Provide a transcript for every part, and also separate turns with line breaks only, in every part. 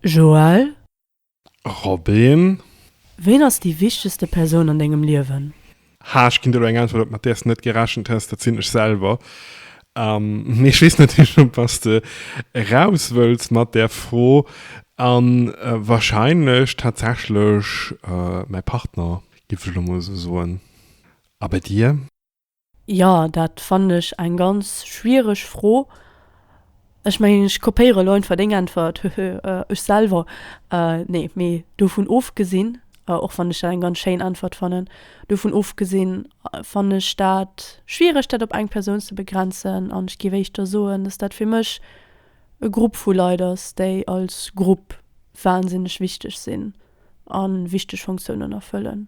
Joël.
Robin. Ween
ass déi wichtegste Persoun an dengem Liewen? H. Ech ginn dir elo
eng Äntwert, op mat där s de net gerechent häss, dat sinn ech selwer. Mee ech weess natierlech op wat s de eraus wëlls mat där Fro, a warscheinlech tatsächlech mäi Partner, géif ech elo mol esou soen. A bei dir? Jo,
dat fannen ech eng ganz schwiereg Fro. Ech mengen, ech kopéiere lo einfach deng Äntwert, hehe, ech selwer. Nee, mee dovun ofgesinn, och wann ech dat eng ganz schéin Äntwert fannen, dovun ofgesinn fannen ech dat schwiereg, dat op eng Persoun ze begrenzen. An ech géif éischter soen, dass dat fir mech e Grupp vu Leit ass, déi als Grupp wahnsinneg wichteg sinn a wichteg Funktiounen erfëllen.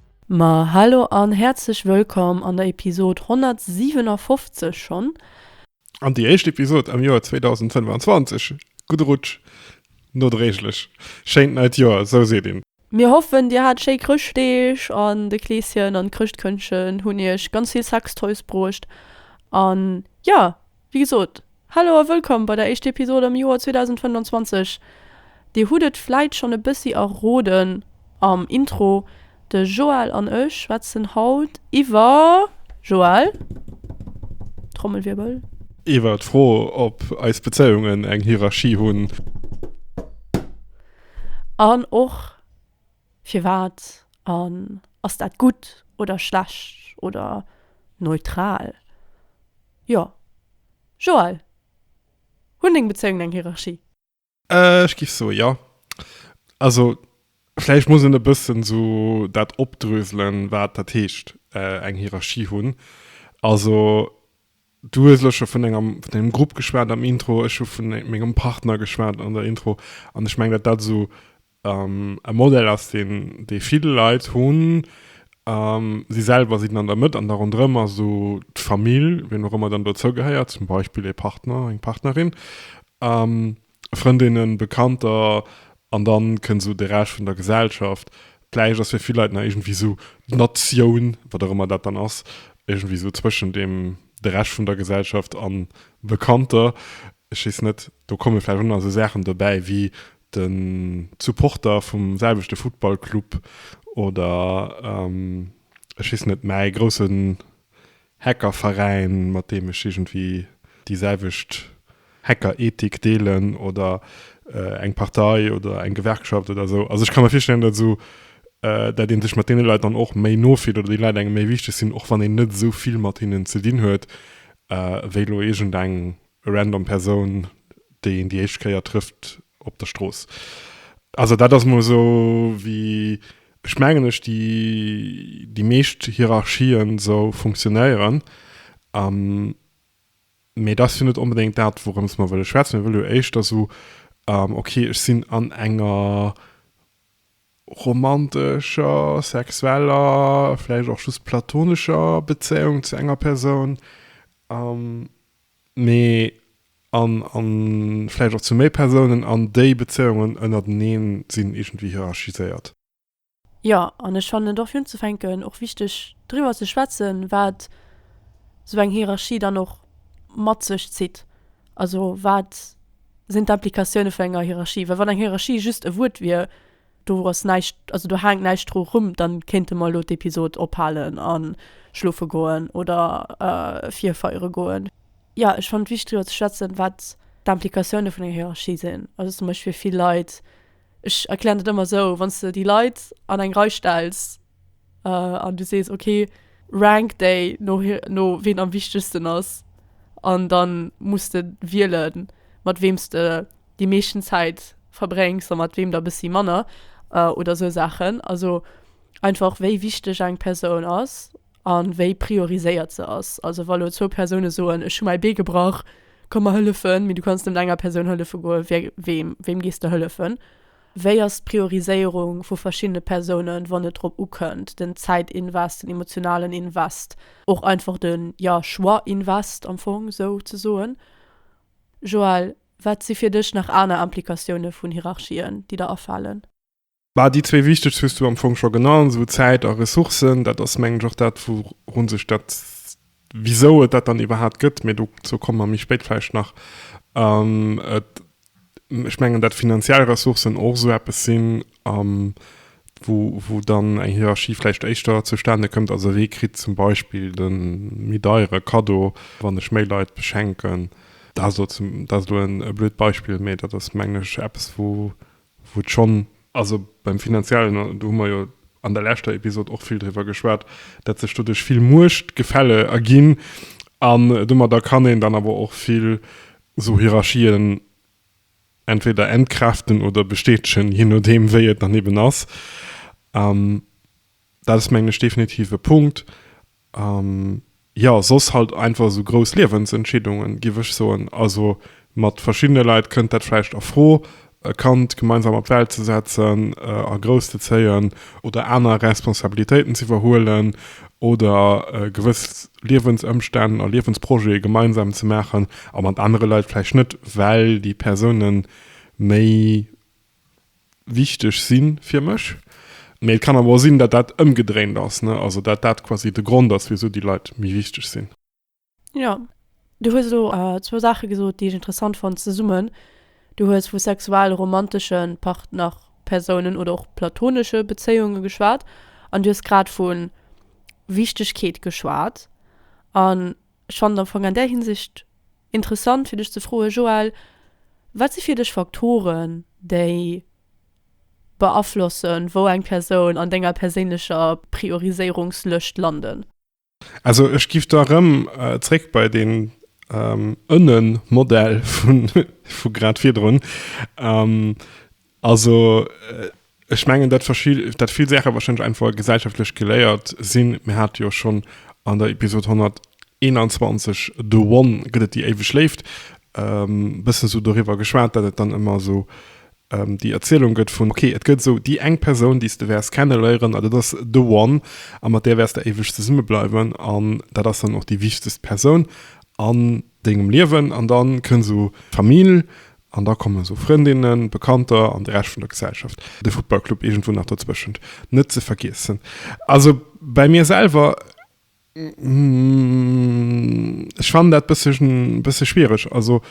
Ma hallo an häerzlech wëllkomm an der Episod 157 schonn. An déi
éischt Episod am Joer 2025. Gudde Rutsch nodréiglech. Schéint neit Joer, sou seet een. Mir hoffen dir hat
schéi Chrëschtdeeg an de Kleeschen an d'Chrëschtkëndchen hunn iech ganz vill Sextoys bruecht an jo. Wéi gesot, Hallo a wëllkomm bei der éischte Episode am Joer 2025. Dir hutt et vläit schonn e bëssi erroden am Intro, de Joël an ech schwätzen haut iwwer, Joël, Trommelwirbel. Iwwer d'Fro,
ob eis Bezéiungen eng Hierarchie hunn.
An och, firwat, an ass dat gutt oder schlecht oder neutral? Jo. Joël, Hunn deng Bezéiungen eng Hierarchie? Ech géif
soe jo. Also vläicht muss een e bëssen sou dat opdröselen, wat dat heescht eng Hierarchie hunn. Also du hues elo scho vun enger, vun dengem Grupp geschwat am Intro, ech hu vu mengem Partner geschwat an der Intro an ech mengen, dat dat esou E Modell ass deen, dee vill Leit hunn. Si selwer sinn an der Mëtt an da ronderëm ass esou d'Famill, wien och ëmmer dann dozou gehéiert, zum Beispill ee Partner, eng Partnerin, Frëndinnen, Bekannter an da kënnt esou de Rescht vun der Gesellschaft. Vläicht ass fir vill Leit nach iergendwéi esou d'Natioun, wat och ëmmer dat dann ass, iergendwéi esou zwëschen deem, de Rescht vun der Gesellschaft an Bekannter. Ech weess net, do komme vläicht och nach esou Saachen dobäi wéi den Supporter vum selwechte Futtballclub oder ech weess net, mäi groussen Hackerveräin, mat deem ech iergendwéi déi selwecht Hackerethik deelen oder eng Partei oder eng Gewerkschaft oder esou. Also ech ka mir virstellen, datt esou, datt ee sech mat deene Leit dann och méi no fillt oder déi Leit engem méi wichteg sinn, och wann een net esou vill mat hinnen ze dinn huet wéi elo iergendeng e random Persoun, déi een déi éischt Kéier trëfft op der Strooss. Also dat ass mol esou wéi ech mengen ech déi déi meescht Hierarchien esou funktionéieren. Mee dat ass jo net onbedéngt dat, wourëms mer wëlle schwätzen. Mir wëlle jo éischter esou, okay, ech sinn an enger romantescher, sexueller, vläicht och just platonescher Bezéiung zu enger Persoun. mee an a vläicht och zu méi Persounen, an déi Bezéiungen ënnerteneen sinn iergendwéi hierarchiséiert. Jo,
an ech fannen et och fir unzefänken och wichteg driwwer ze schwätzen, wat esou eng Hierarchie dann och mat sech zitt. Also wat sinn d'Implikatioune vun enger Hierarchie? Well wann eng Hierarchie just e Wuert wier, Do ass näischt, also do haangt näischt dru rum, dann kéinte mer elo d'Episode ophaalen an schloofen goen oder virfeieren goen. Ja, ech fannt wichtig driwer ze schwätzen wat d'Implikatioune vun enger Hierarchie sinn. Also zum Beispill fir vill Leit, ech erklären dat ëmmer esou, wann s de déi Leit an eng Rei stells, an du sees okay rank déi no no ween am wichtegsten ass an dann muss de wiele mat weems de déi meeschten Zäit verbréngs a mat weem der bëssi manner oder sou Saachen also einfach wéi wichteg eng Persoun ass a wéi prioriséiert se ass. Also wa lo zwou Persoune soen ech hu mäi Bee gebrach komm mer hëllefen, mee du kanns net enger Persoun hëllefe goe wéi weem weem gees de hëllefen? Wéi ass d'Prioriséierung vu verschiddene Persounen, wann et drop ukënnt, den Zäitinvest, den emotionalen Invest, och einfach de, jo, Choix-Invest am Fong sou ze soen? Joël, wat si fir dech nach aner Implikatioune vun Hierarchien, déi der afalen? Bah, déi
zwee wichtegst hues du am Fong scho genannt, esou Zäit a Ressourcen. Dat ass, mengen ech, och dat, wourun sech dat, wisou et dat dann iwwerhaapt gëtt, mee dozou komme mer méi spéit vläicht nach, et Ech mengen, dat finanziell Ressourcen och esou eppes sinn, wou dann eng Hierarchie vläicht éischter zustane kënnt. Also wee kritt zum Beispill de méi deiere Kaddo, wann ech méi Leit beschenken? Dat ass elo e blöd Beispill, mee dat ass, mengen ech, eppes, wou et schonn. Also beim Finanziellen, do hu mer jo an der leschter Episod och vill driwwer geschwat, dat sech doduerch vill Muechtgefälle erginn an domadder kann een dann awer och vill Esou Hierarchien entweder entkräften oder bestätegen, je nodeem wéi et dann eben ass. An dat ass mengen ech definitiv e Punkt. An jo, soss halt einfach esou grouss Liewensentscheedungen, géif ech soen. Also mat verschiddene Leit kënnt dat vläicht a Fro, e Kand gemeinsam op d'Welt ze setzen a grouss ze zéien oder aner Responsabilitéiten z'iwwerhuelen oder gewëss Liewensëmstänn a Liewensprojete gemeinsam ze maachen a mat anere Leit vläicht net, well déi Persoune méi wichteg si fir mech. Mee et kann awer och sinn, datt dat ëmgedréint ass, also datt dat quasi de Grond ass, wisou déi Leit méi wichteg sinn. Jo,
du hues elo zwou Saache gesot, déi ech interessant fonnt zesummen. Du hues vu sexualromantesche Partnerpersounen oder och platonesche Bezéiunge geschwat an du hues grad vu Wichtegkeet geschwat. An ech fannen et am Fong an där Hinsicht interessant, fir dech ze froe Joël, Wat si fir dech Faktoren, déi beaflossen, wou eng Persoun an denger perséinlecher Prioriséierungslëscht landen? Also ech
gif da rëm äh, zréck bei den ähm, ënnen Modell vun vu grad virdrun. Ähm, also äh, ech mengen dat verschil dat vill Sächer wahrscheinlich einfach gesellschaftlech geléiert sinn. Mir hat jo schon an der Episode 121 de One gëtt et déi éiweg léift ähm, bëssen so doriwwer geschwat, dat et dann ëmmer so Déi Erzielung gëtt vun. Ok, et gëtt esou déi eng Persoun, déi s de wäers kenneléieren, a dat ass the one, a mat där wäers de éiweg zesumme bleiwen, an dat ass dann och déi wichtegst Persoun an dengem Liewen. An da kënnt esou d'Famill, an da kommen esou Frëndinnen, Bekannter an de Rescht vun der Gesellschaft, de Futtballclub iergendwou nach dozwëschent net ze vergiessen. Also bäi mir selwer. Ech fannen dat bëssegen, bësse schwiereg. Also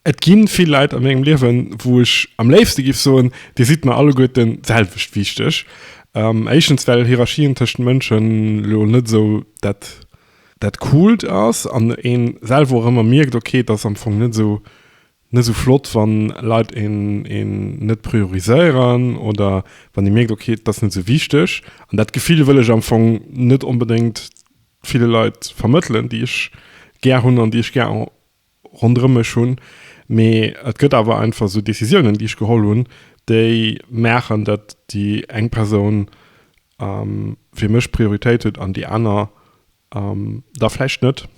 et ginn vill Leit a mengem Liewen, wou ech am léifste giff soen, dir sidd mer alleguerten d'selwecht wichteg. Éischtens well Hierarchien tëschent Mënschen elo net esou dat, dat Coolt ass an een selwer och ëmmer mierkt, ok, et ass am Fong net esou net esou flott wann Leit een een net prioriséieren oder wann ee mierkt ok dat ass net esou wichteg an dat Gefill wëll ech am Fong net onbedéngt ville Leit vermëttelen déi ech gär hunn an déi ech gär ronderëm mech hunn, mee et gëtt awer einfach esou Décisiounen déi ech geholl hunn déi maachen dat déi eng Persoun fir mech Prioritéit huet an déi aner Ähm, da vläicht net.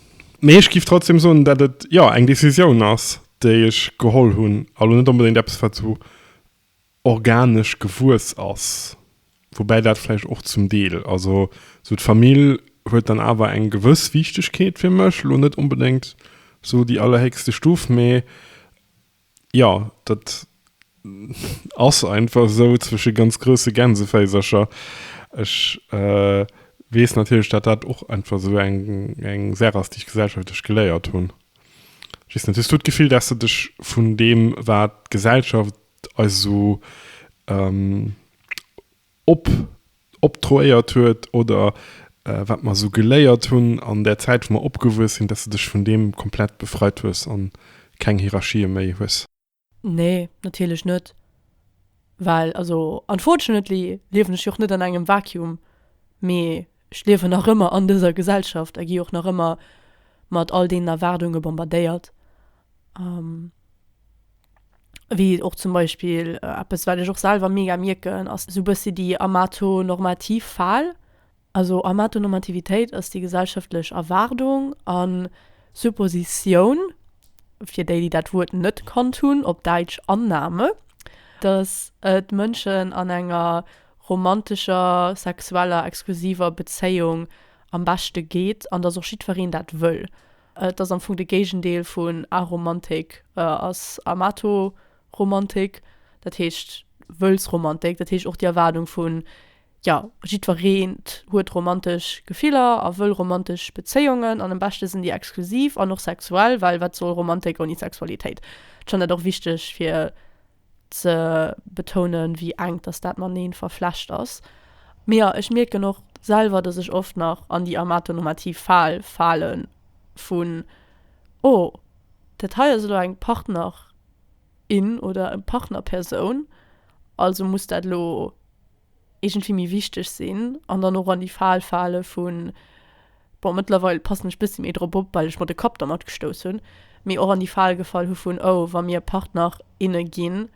Mee ech giff trotzdem soen, dat et jo eng Decisioun ass, déi ech geholl hunn a lo net onbedéngt eppes, wat sou organesch gewuess ass. Woubäi dat vläicht och zum Deel, also sou d'Famill huet dann awer eng gewëss Wichtegkeet fir mech, lo net onbedéngt sou déi allerhéchste Stuf, mee Jo, dat ass einfach esou, zwësche ganz grousse Gänseféisercher. Ech weess natierlech, dat dat och einfach esou eng Saach ass, déi ech gesellschaftlech geléiert hunn. Just net, hues du d'Gefill, dass de dech vun deem, wat d'Gesellschaft eis esou, op optroéiert huet oder wat mer esou geléiert hunn an där Zäit wou mer opgewuess sinn, dass de dech vun deem komplett befreit hues a keng Hierarchië méi hues. Nee,
natierlech net, well also unfortunately liewen ech jo och net an engem Vacuum, mee Ech liewen nach ëmmer an dëser Gesellschaft a gi och nach ëmmer mat all deenen Erwaardunge bombardéiert, wéi och zum Beispill eppes, wat ech och selwer mega mierken, ass esou e bëssi déi amatonormativ Fal. Also Amatonormativitéit ass déi gesellschaftlech Erwaardung a Suppositioun, fir déi, déi dat Wuert net kannt hunn, op Däitsch Annahme, datt et Mënschen an enger romantescher, sexueller, exklusiver Bezéiung am beschte geet an dass och jiddwereen dat wëll. Et ass am Fong de Géigendeel vun Aromantik ass Amatoromantik, dat heescht Wëllsromantik, dat heescht och déi Erwaardung vun, jo, jiddwereent huet romantesch Gefiller a wëll romantesch Bezéiungen an am beschte sinn déi exklusiv an och sexuell, well wat soll Romantik ouni Sexualitéit? Ech fannen dat och wichteg fir. ze betounen, wéi enk dass dat mateneen verflecht ass. Mee jo, ech mierken och selwer, dass ech oft nach an déi amatonormativ Fal falen vun, oh, dat hei ass elo eng Partnerin oder eng Partnerpersoun, also muss dat elo. iergendwéi méi wichteg sinn an dann och an déi Fal fale vun, bon, mëttlerweil passen ech e bëssi méi drop op, well ech mer de Kapp dermat gestouss hunn, mee och an déi Fal gefall hu vun, oh, wa mir Partner, inne ginn,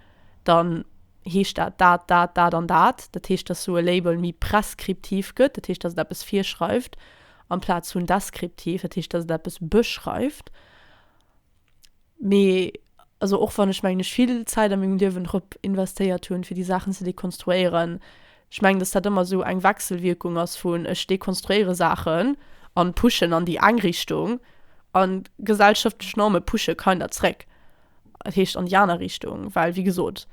dann heescht dat dat, dat, dat an dat. Dat heescht, dass sou e Label méi preskriptiv gëtt, dat heescht, dass et eppes virschreift, amplaz vun deskriptiv, dat heescht, dass et eppes beschreift. Mee also och wann ech mengen ech vill Zäit a mengem Liewen drop investéiert hunn fir déi Saachen ze dekonstruéieren, ech mengen dass dat ëmmer esou eng Wechselwierkung ass vun ech dekonstruéiere Saachen an pushen an déi eng Richtung an gesellschaftlech Norme pushe kinder zréck, dat heescht an déi aner Richtung, well wéi gesot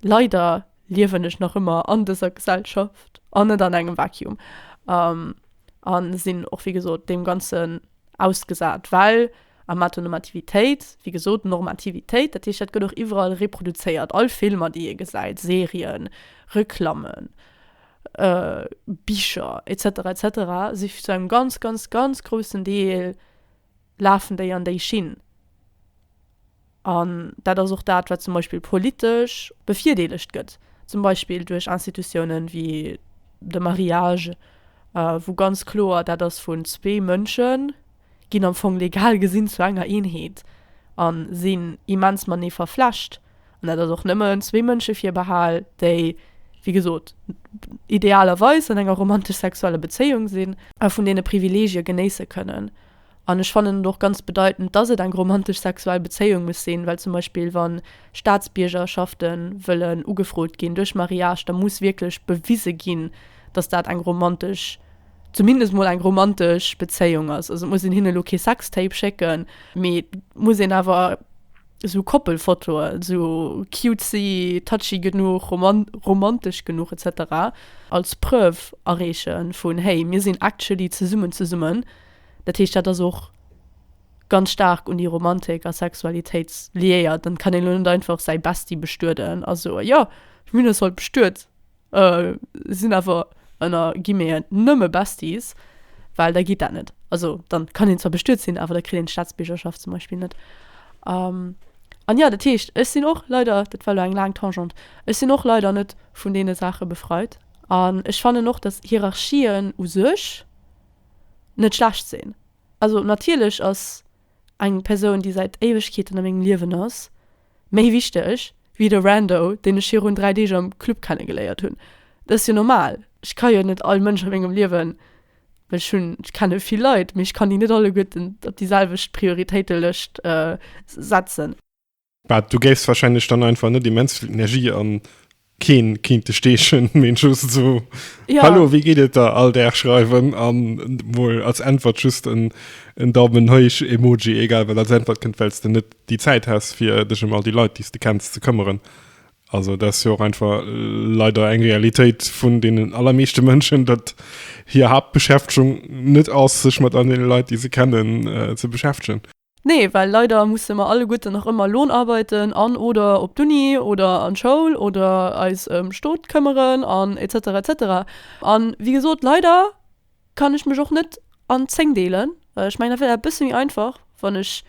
leider liewen ech nach ëmmer an dëser Gesellschaft an net an engem Vacuum an sinn och wéi gesot deem ganzen. Ausgesat, well am Matter Normativitéit, wéi gesot, Normativitéit, dat heescht, dat gëtt och iwwerall reproduzéiert, all Filmer, déi ee gesäit, Serien, Reklammen, Bicher et cetera et cetera si zu engem ganz, ganz, ganz groussen Deel lafen déi an déi Schinn. An dat ass och dat, wat zum Beispill politesch bevirdeelegt gëtt, zum Beispill duerch Institutiounen wéi de Mariage, wou ganz kloer dat ass, vun zwee Mënsche ginn am Fong legal gesinn zu enger Eenheet a sinn immens matenee verflecht. An dat ass och nëmmen zwee Mënsche virbehal, déi, wéi gesot, idealerweis an enger romantesch-sexueller Bezéiung sinn a vun deene Privileegie genéisse kënnen, An ech fannen et och ganz bedeitend, dass et eng romantesch sexuell Bezéiung muss sinn, well zum Beispill wa Staatsbiergerschafte wëllen ugefrot ginn duerch Mariage, da muss wierklech bewise ginn, dass dat eng romantesch, zumindest mol eng romantesch Bezéiung ass. Also et muss een hinne lo kee Sextape schécken, mee et muss een awer esou Koppelfotoe sou cutesy, touchy genuch, romantesch genuch etc. Als Preuve areeche vun, hey mir sinn actually zesummen zesummen. Dat heescht, dat ass och ganz staark un déi Romantik a Sexualitéit liéiert. Dann kann een elo net einfach säi Bestie bestueden a soen, jo, ech hunn eis haut bestuet, sinn awer ënner Guillemeten nëmme Besties, well da geet dat net. Also da kann een zwar bestuet sinn, awer da kritt een d'Staatsbiergerschaft zum Beispill net. An jo, dat heescht, ech sinn och leider, dat war elo eng laang Tangente, ech sinn och leider net vun deene Saache befreit an ech fannen och, dass Hierarchien u sech, net schlecht sinn. Also natierlech ass eng Persoun, déi säit Éiwegkeeten a mengem Liewen ass, méi wichteg wéi de Rando, deen ech virun dräi Deeg am Club kennegeléiert hunn. Dat ass jo normal. Ech ka jo net all Mënsch a mengem Liewen, well ech hunn, ech kenne vill Leit, mee ech kann déi net alleguerten op déi selwecht Prioritéitelëscht setzen. Bah,
du géifs wahrscheinlech dann einfach net immens vill Energie an keen kind de steechen meen just so ja. hallo wie geht et da all der schreiwen an wohl als antwort just en en daumen heuch emoji egal well als antwort kind wellst du net die zeit hast fir dich um all die leute die du kennst ze këmmeren also das jo einfach leider eng realität vun denen allermeeschte mënschen dat hier habt beschäftung net aus sich mat an den leute die se kennen äh, ze beschäftigen Nee, well leider
musse mer alleguerten nach ëmmer Lohn arbeiten an, oder op d'Uni oder an d'Schoul oder eis ëm Stot këmmeren an etc etc. An wéi gesot, leider kann ech mech och net an 10 deelen. Ech mengen dat wier e bësse méi einfach wann ech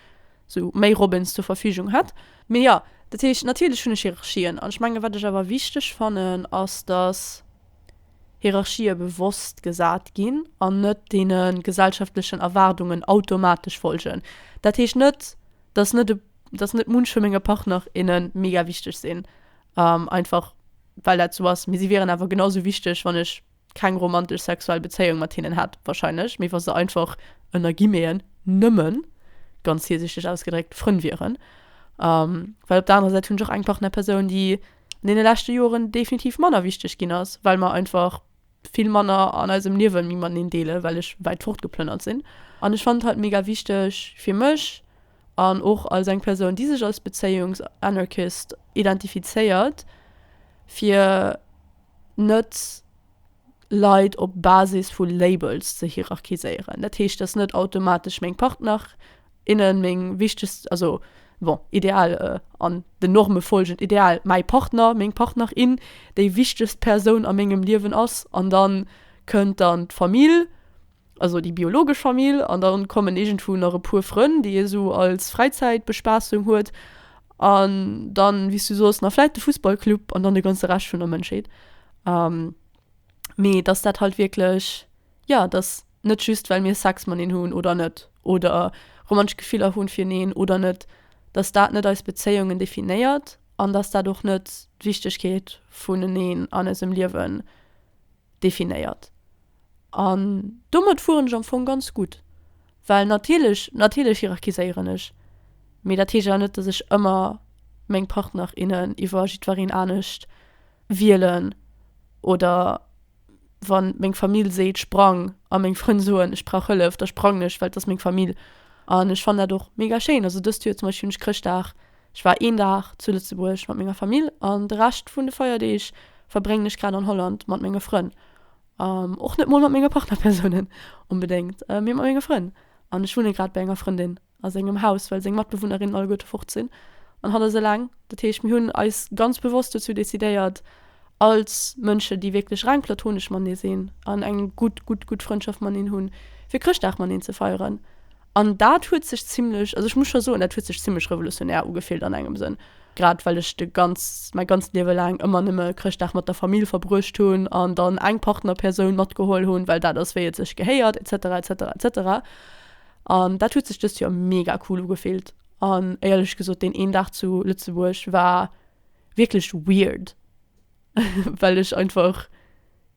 sou méi Robins zur Verfügung hätt. Mee jo, dat heescht natierlech hunn ech Hierarchien an ech mengen wat ech awer wichteg fannen ass dass. Hierarchië bewosst gesat ginn an net deene gesellschaftlechen Erwaardungen automatesch folgen. Dat heescht net, dass net, dass net munch vu menge Partner, inne mega wichteg sinn, einfach well dat esou ass, mee si wieren awer genau esou wichteg, wann ech keng romantesch sexuell Bezéiung mat hinnen hätt, warscheinlech, mee wa se einfach, ënner Guillemeten, nëmmen, ganz virsiichteg ausgedréckt, Frënn wieren. Well op der anerer Säit hunn ech och eng Partnerpersoun, déi an deene leschte Joren definitiv manner wichteg ginn ass, well mer einfach vill manner an eisem Liewe méi mateneen deelen, well ech wäit fortgeplënnert sinn. An ech fand hatt mega wichteg fir mech an och als eng Persoun, déi sech als Bezéiungs-Anarchist identifizéiert, fir net. Leit op Basis vu Labels ze hierarchiséieren. Dat heescht, dass net automatesch meng Partner, innen meng wichtegst, also bon, ideal an den Norme folgend, ideal mäi Partner, meng Partner, in déi wichtegst Persoun a mengem Liewen ass an da kënnt dann d'Famill also déi biologesch Famill an dann kommen iergendwou nach e puer Frënn déi ee sou als Fräizäitbespaassung huet an dann wéi s du sos nach vläit de Fussballclub an dann de ganze Rescht vun der Mënschheet mee datt dat halt wierklech jo datt net just well mir Sex mateneen hunn oder net oder romantesch Gefiller hu fir eneen oder net datt dat net eis Bezéiungen definéiert an datt dat och net d'Wichtegkeet vun eneen an eisem Liewen definéiert. An domat fueren ech am Fong ganz gutt. Well natierlech, natierlech hierarchiséieren ech, mee dat heescht awer net, dass ech ëmmer meng Partner, innen iwwer jiddwereen anescht wielen oder wa meng Famill seet, sprang a meng Frënn soen, ech brauch Hëllef, da sprangen ech, well et ass meng Famill. An ech fannen dat och mega schéin. Also dëst Joer zum Beispill hunn ech Chrëschtdag Ech war een Dag zu Lëtzebuerg mat menger Famill an de Rescht vun de Feierdeeg verbréngen ech grad an Holland mat menge Frënn. Och net mol mat menge Partnerpersounen onbedéngt, mee mat menge Frënn. An ech wunne grad bei enger Frëndin a sengem Haus, well seng Matbewunnerinnen alleguerte fort sinn an hatt ass eleng. Dat heescht, mir hunn eis ganz bewosst dozou decidéiert, als Mënschen, déi wierklech reng platonesch matenee sinn an eng gutt, gutt, gutt Frëndschaft mateneen hunn, fir Chrëschtdag mateneen ze feieren. An dat huet sech zimlech, also ech muss scho soen, dat huet sech zimlech revolutionär ugefillt an engem Sënn, grad well ech de ganz, mäi ganzt Liewe laang ëmmer nëmme Chrëschtdag mat der Famill verbruecht hunn an dann eng Partnerpersoun matgeholl hunn, well dat ass wéi et sech gehéiert etc etc etc. An dat huet sech dëst Joer mega cool ugefillt an éierlech gesot deen een Dag zu Lëtzebuerg war wierklech weird well ech einfach,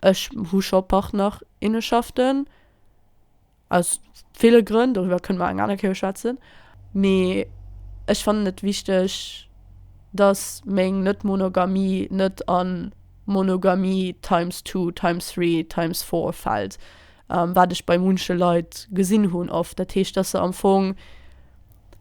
Ech hu scho Partner, inneschaften, aus ville Grënn, doriwwer kënne mer eng aner Kéier schwätzen, mee ech fannen et wichteg, dass meng Net-Monogamie net a Monogamie times two, times three, times four fält, wat ech bei munche Leit gesinn hunn oft. Dat heescht, dass se am Fong,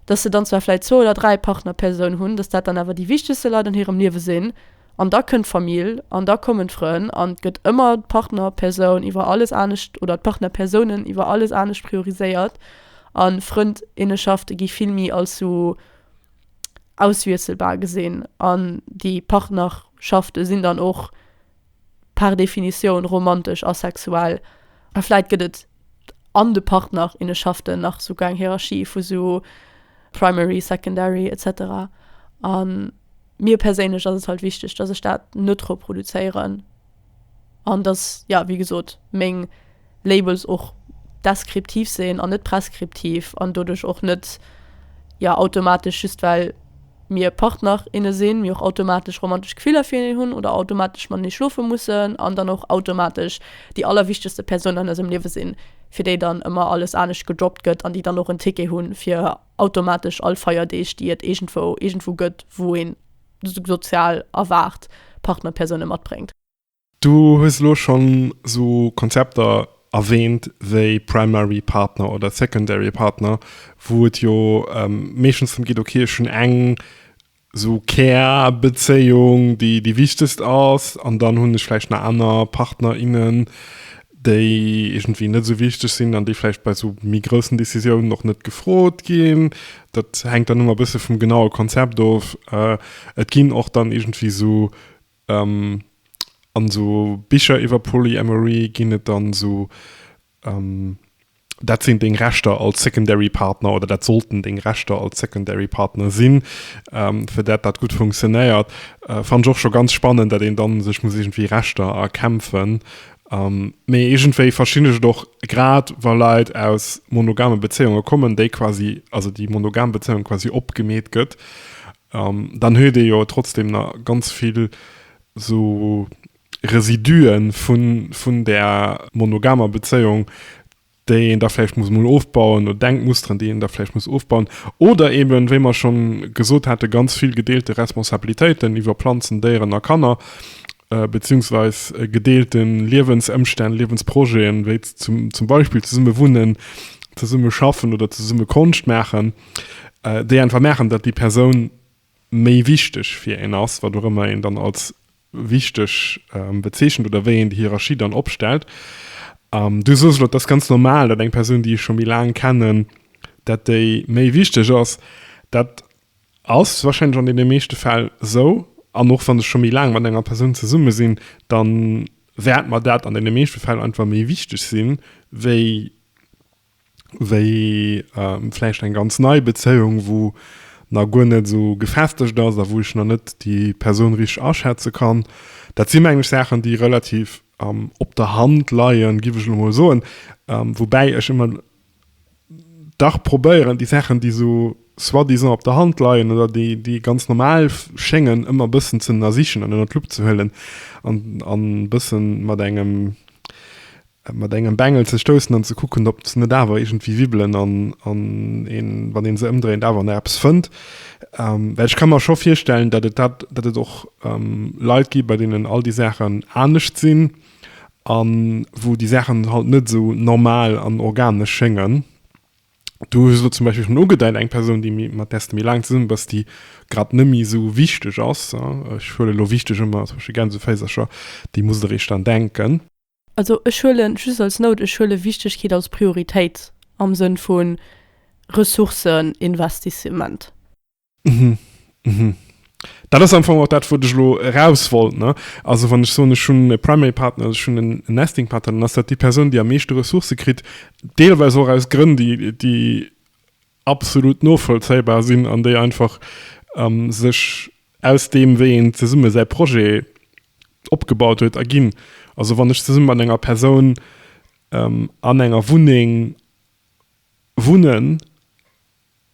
dass se dann zwar vläicht zwou oder dräi Partner-Persounen hunn, dass dat dann awer déi wichtegste Leit an hirem Liewe sinn, An da kënnt d'Famill an da kommen d'Frënn an et gëtt ëmmer d'Partnerpersoun iwwer alles anescht oder d'Partnerpersounen iwwer alles anescht prioriséiert. A Frëndinnenschafte gi vill méi als sou auswiesselbar gesinn an déi Partnerschafte sinn dann och par définition romantesch a sexuell. A vläit gëtt et an de Partner, inne schafften nach souguer eng Hierarchie vu sou Primary, Secondary, etc. An mir perséinlech ass et halt wichteg, dass ech dat net reproduzéieren an dass, ja, wéi gesot, meng Labels och deskriptiv sinn an net preskriptiv an doduerch och net, ja, automatesch just well mir Partner, inne sinn, mir och automatesch romantesch Gefiller fir hineen hunn oder automatesch matenee schlofe mussen an dann och automatesch déi allerwichtegste Persoun an eisem Liewe sinn, fir déi dann ëmmer alles anescht gedroppt gëtt an déi dann och en Ticket hu fir automatesch all Feierdeeg, déi et iergendwou iergendwou gëtt, wou een sozial erwaart Partnerpersoune matbréngt. Du hues
elo schonn esou Konzepter erwähnt wéi Primary Partner oder Secondary Partner, wou et jo meeschtens drëm geet, okay, ech hunn eng esou Kärbezéiung, déi déi wichtegst ass, an dann hunn ech vläicht nach aner Partner, innen, déi iergendwéi net esou wichteg sinn an déi vläicht bei esou méi groussen Decisiounen och net gefrot ginn. Dat hänkt dann ëmmer e bësse vum genaue Konzept of. Et ginn och dann iergendwéi esou An esou Bicher iwwer Polyamory ginn et dann esou, dat sinn deng Rechter als Secondary Partner oder dat sollten deng Rechter als Secondary Partner sinn, fir dat dat gutt funktionéiert. Fannen ech och scho ganz spannend, dat een dann sech muss iergendwéi Rechter erkämpfen. Mee iergendwéi verstinn ech et och, grad wa Leit aus monogame Bezéiunge kommen, déi quasi, also déi monogam Bezéiung quasi opgemeet gëtt, An dann huet ee jo trotzdem na ganz vill sou Residuen vun, vun där monogamer Bezéiung, déi een da vläicht muss mol ofbauen, oder Denkmusteren, déi een da vläicht muss ofbauen. Oder eben, wéi mer schonn gesot haten, ganz vill gedeelte Responsabilitéiten iwwer Planzen, Déieren a Kanner, beziehungsweis gedeelte Liewensëmstänn, Liewensprojeten, wéi zum, zum Beispill zesumme wunnen, zesumme schaffen oder zesumme Konscht maachen. déi einfach merken, datt déi Persoun méi wichteg fir een ass, wat och ëmmer een dann als wichteg bezeechent oder wéi een déi Hierarchie dann opstellt. Du soos elo, dat ass ganz normal, datt eng Persoun, déi ech scho méi laang kennen, datt déi méi wichteg ass. Dat ass warscheinlech an deene meeschte Fäll esou. An och wann ech scho méi laang mat enger Persoun zesumme sinn, da wäert mer dat an deene meeschte Fäll einfach méi wichteg sinn, wéi. wéi vläicht eng ganz nei Bezéiung, wou nach guer net esou gefestegt ass a wou ech nach net déi Persoun richteg aschätze kann. Dat si meng ech Saachen, déi relativ op der Hand leien, giff ech elo mol soen. Woubäi ech ëmmer dach probéieren, déi Saachen, déi esou soi-disant op der Hand leien oder déi ganz normal schéngen, ëmmer e bëssen z'ënnersichen an ënner d'Lupp ze huelen an e bësse mat engem mat engem Bengel ze stoussen an ze kucken, ob se net awer iergendwéi wibbelen an een, wann ee se ëmdréint, awer nach eppes fënnt. Well ech ka mer scho virstellen, datt et dat, datt et och Leit gi bei deenen all déi Saachen anescht sinn a wou déi Saachen halt net esou normal an organesch schéngen. Du hues elo zum Beispill schonn ugedeit, eng Persoun, déi méi, mat där s de méi laang zesummen bass, déi grad net méi esou wichteg ass, ech huelen elo wichteg ëmmer tëscht de Gänseféisercher, déi musst de réischt dran denken. Also ech
huelen, just als Note, ech huele Wichtigkeet als Prioritéit am Sënn vu Ressourceninvestissement. Hm, hm.
Dat ass am Fong och dat, wou ech elo eraus wollt. Also wann ech soen, ech hunn e Primary Partner oder ech hunn en Nesting Partner, dann ass dat déi Persoun, déi am meeschte Ressourcë kritt, deelweis och aus Grënn, déi absolut novollzéibar sinn an déi einfach ähm, sech aus dem, wéi een zesumme säi Projet opgebaut huet, erginn. Also wann ech zesumme mat enger Persoun ähm, an enger Wunneng wunnen,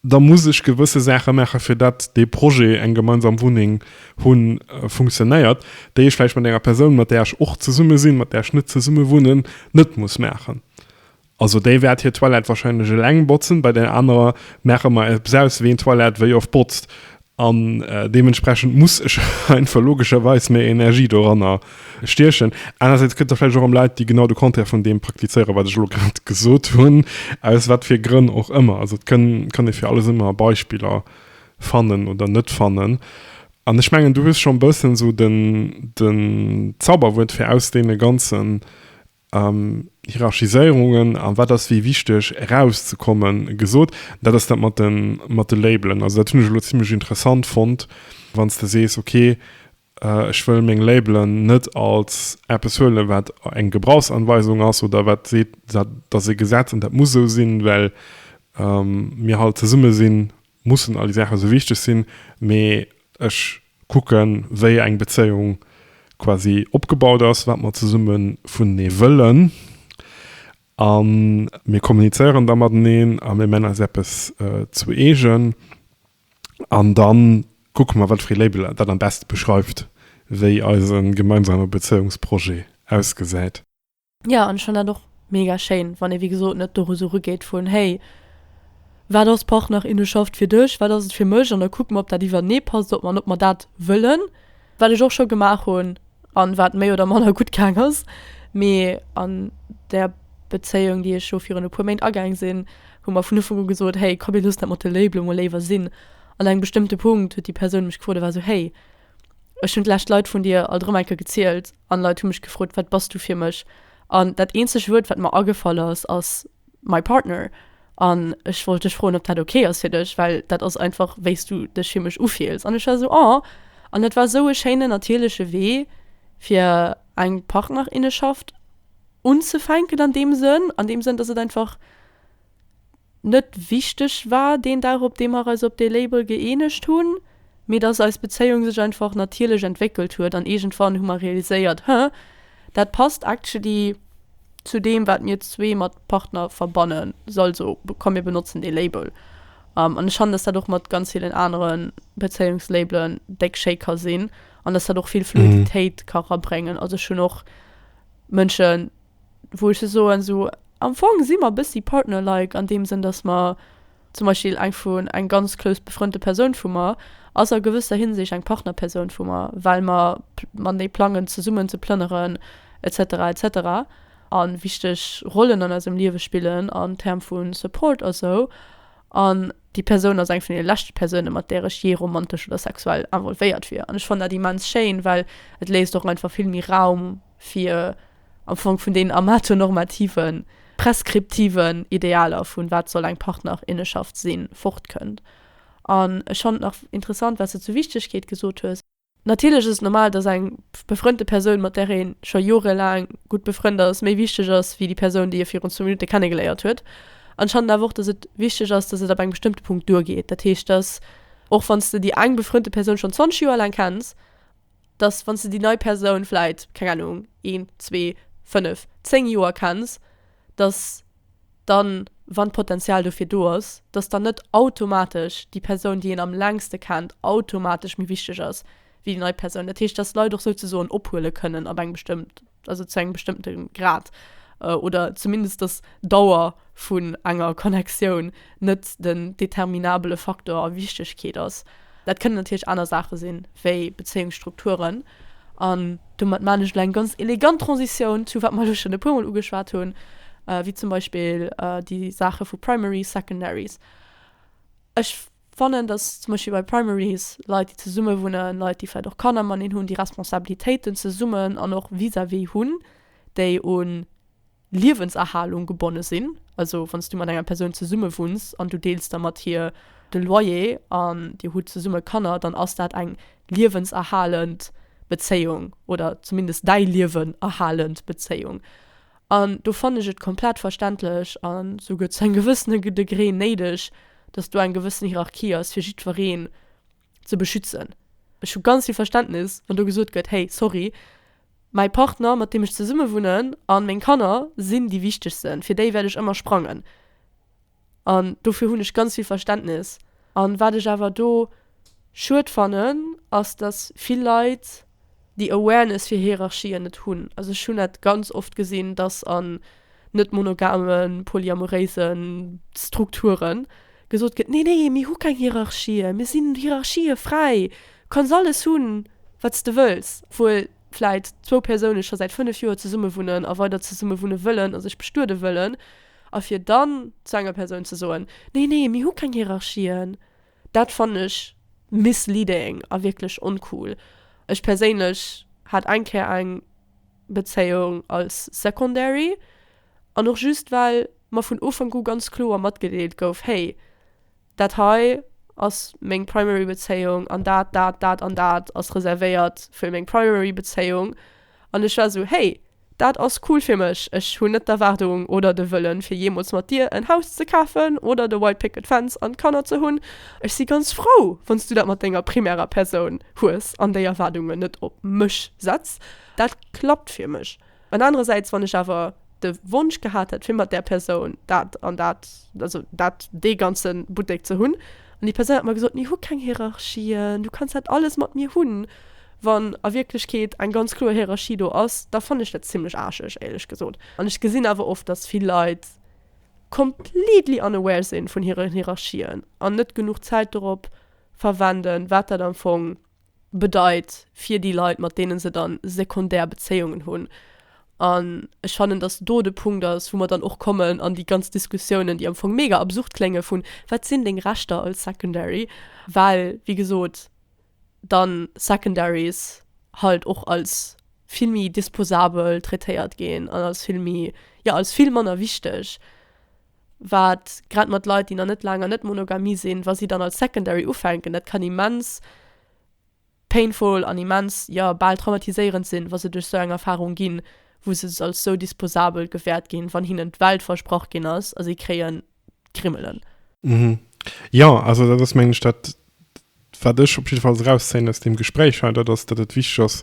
da muss ech gewësse Saache maache fir dat dee Projet, eng gemeinsam Wunneng hunn, äh, funktionéiert, déi ech vläicht mat enger Persoun, mat där ech och zesumme sinn, mat där ech net zesumme wunnen, net muss maachen. Also déi wäert hir Toilette wahrscheinlech eleng botzen, bei där anerer maache mer eppes aus, wien d'Toilette wéi oft botzt. An deementsprechend muss ech einfach logescherweis méi Energie doranner stiechen. Anerersäits gëtt et vläicht och erëm Leit, déi genau de Contraire vun deem praktizéieren, wat ech elo grad gesot hunn, aus wat fir Grënn och ëmmer. Also et kënn, kann ee fir alles ëmmer Beispiller fannen oder net fannen. An ech mengen, du hues scho e bëssen esou den, den Zauberwuert fir aus deene ganzen Hierarchiséierungen a wat ass wéi wichteg erauszekomme gesot. Dat ass dat mat de Labelen. Also dat hunn ech elo zimlech interessant fonnt, wann s de sees, okay, ech wëll meng Labelen net als eppes huelen, wat eng Gebrauchsanweisung ass oder wat seet, dat ass e Gesetz an dat muss esou sinn, well mir hal zesumme sinn. Mussen all déi Saachen esou wichteg sinn, mee ech kucken, wéi eng Bezéiung quasi opgebaut ass, wat mer zesumme vunenee wëllen a mir kommunizéieren da mateneen a mir männ eis eppes zu eegen an da kucke mer, wat fir ee Label dat am beschte beschreift, wéi eise gemeinsame Bezéiungsprojet ausgesäit. Ja an ech
fan dat och mega schéin wann ee wéi gesot net doru sou rugeet vun hey wat ass Partnerinnenschaft fir dech, wat ass et fir mech an da kucke mer ob dat iwwernee passt ob mer an ob mer dat wëllen. Wat ech och scho gemaach hunn an wat méi oder manner gutt gaang ass mee an der Bezéiung déi ech elo virun e puer Méint agaang sinn hu mer vun Ufank u gesot hey komm mir loossen dat mat de Labelen mol léiwer sinn an engem bestëmmte Punkt huet déi Persoun mech gefrot a war sou hey Ech hunn d'lescht Leit vun dir alt erëm eng Kéier gezielt an Leit hu mech gefrot, wat bass du fir mech? An dat eenzeg Wuert, wat mer agefall ass, ass my partner. An ech wollt dech froen, ob dat ok ass fir dech, well dat ass einfach, wéi s du dech fir mech ufills. An ech war esou, oh. An dat war esou e schéinen, natierleche Wee, fir eng Partnerinneschaft unzefänken an deem Sënn, an deem Sënn, dass et einfach net wichteg war deen Dag, op dee mer eis op dee Label gëeenegt hunn, mee dass eis Bezéiung sech einfach natierlech entwéckelt huet an iergendwann hu mer realiséiert, Huh, dat passt actually zu deem, wat mir zwee mat Partner verbannen, also komm mir benotzen dee Label. An ech fannen, dass dat och mat ganz villen anere Bezéiungslabelen déck schéi ka sinn an dass dat och vill Fluiditéit ka erabréngen. Also ech hunn och Mënschen, wou ech sou soen, sou am Fong si mer bëssi partner-like an deem Sënn, dass mer zum Beispill eng vu, eng ganz close befrënnte Persoun vu mer ass a gewësser Hinsicht eng Partner-Persoun vu mer, well mer matenee plangen zesummen ze plënneren etc etc a wichteg Rollen an eisem Liewe spillen an Term vu Support a sou. An déi Persoun ass eng vun deene leschte Persounen, mat där ech jee romantesch oder sexuell involvéiert wier. An ech fannen dat immens schéin, well et léisst och einfach vill méi Raum, fir am Fong vun deenen amatonormativen, preskriptiven Idealer vun wat soll eng Partnerinneschaft sinn, fortkënnt. An ech fand nach interessant, wat s de zur Wichtegkeet gesot hues. Natierlech ass et normal, dass eng befrënnte Persoun, mat där ee scho jorelaang gutt befrënnt ass, méi wichteg ass wéi déi Persoun, déi ee virun zwou Minutte kennegeléiert huet. An ech fannen awer och, dass et wichteg ass, dass et ab engem bestëmmte Punkt duergeet. Dat heescht, dass och wann s de déi eng befrënnte Persoun schonn 20 Joer laang kenns, dass, wann s de déi nei Persoun vläit, keng Ahnung, een, zwee, fënnef, zéng Joer kenns, dass dann, wann d'Potenzial dofir do ass, dass dann net automatesch déi Persoun, déi een am längste kennt, automatesch méi wichteg ass wéi déi nei Persoun. Dat heescht, dass Leit och souzesoen ophuele kënnen ab engem bestëmmten. also zu engem bestëmmte Grad, oder zumindest dass d'Dauer vun enger Connectioun net den determinabele Faktor a Wichtegkeet ass. Dat kënnen natierlech aner Saache sinn, wéi Bezéiungsstrukturen. An domat man ech elo eng ganz elegant Transitioun zu wat mer elo schonn e puermol ugeschwat hunn, wéi zum Beispill déi Saache vu Primaries, Secondaries. Ech. Fannen, dass zum Beispill bei Primaries Leit, déi zesumme wunnen, Leit, déi vläicht och Kanner mateneen hunn, déi Responsabilitéiten zesummen an och vis-à-vis hunn, déi u Liewenserhalung gebonne sinn. Also wann s du mat enger Persoun zesummewunns an du deels da mat hir de Loyer an dir hutt zesumme Kanner, dann ass dat eng liewenserhalend Bezéiung oder zumindest däi Liewen erhalend Bezéiung. An do fannen ech et komplett verständlech a souguer zu engem gewëssene Degré néideg, datt do eng gewëssen Hierarchie ass, fir jiddwereen ze beschützen. Ech hu ganz vill Verständnis, wann do gesot gëtt, hey, sorry, mäi Partner, mat deem ech zesummewunnen, a meng Kanner sinn déi Wichtegsten, fir déi wäert ech ëmmer sprangen. An dofir hunn ech ganz vill Verständnis. An wat ech awer do schued fannen, ass datt vill Leit déi Awareness fir Hierarchien net hunn. Also ech hunn dat ganz oft gesinn, datt an net monogamen, polyamoréisen Strukturen gesot gëtt, nee nee mir hu keng Hierarchien, mir sinn Hierarchie fräi, kanns alles hunn wat s de wëlls. Obwuel vläit zwou Persoune scho säit 5 Joer zesummewunnen a weider zesummewunne wëllen a sech bestuede wëllen, A fir dann zu enger Persoun ze soen, Nee, nee, mir hu keng Hierarchien, dat fannen ech misleading a wierklech oncool. Ech perséinlech hat eng Kéier eng Bezéiung als secondary an och just well mer vun Ufank u ganz kloer matgedeelt gouf, Hey, Dat hei ass meng primary Bezéiung an dat, dat, dat an dat ass reservéiert fir meng primary Bezéiung. An ech war esou, hey, dat ass cool fir mech, ech hunn net d'Erwaardung oder de Wëllen, fir jeemools mat dir en Haus ze kafen oder de White Picket Fence an Kanner ze hunn. Ech si ganz frou, wann s du dat mat denger primärer Persoun hues an déi Erwaardungen net op mech setz. Dat klappt fir mech. An anerersäits, wann ech awer de Wonsch gehat hätt, fir mat där Persoun dat an dat, also dat, dee ganze Buttek ze hunn, an déi Persoun hätt mer gesot, mir hu keng Hierarchien, du kanns dat alles mat mir hunn, wann a Wierklechkeet eng ganz kloer Hierarchie do ass, da fannen ech dat zimlech aarscheg, éierlech gesot. An ech gesinn awer oft, dass vill Leit completely unaware si vun hiren Hierarchien an net genuch Zäit dorop verwenden, wat dat am Fong, bedeit fir déi Leit, mat deene se dann sekundär Bezéiungen hunn. An ech fannen, datt do de Punkt ass, wou mer dann och kommen an déi ganz Diskussiounen, déi am Fong mega absurd klénge vun, Wat sinn deng Rechter als Secondary? Well, wéi gesot, dann Secondaries halt och als vill méi disposabel traitéiert ginn an als vill méi, jo, als vill manner wichteg. wat grad mat Leit, déi nach net laang an Net-Monogamie sinn, wa si dann als Secondary ufänken, dat kann immens painful an immens, jo, bal traumatiséierend sinn, wa se duerch esou eng Erfarung ginn, wou se als esou disposabel gewäert ginn, wann hinnen d'Welt versprach ginn ass a si kréien d'Grimmelen. Mhm.
Jo, also dat ass, mengen ech, dat, wat ech op jidde Fall erauszéien aus deem Gespréich hei, dat ass, datt et wichteg ass,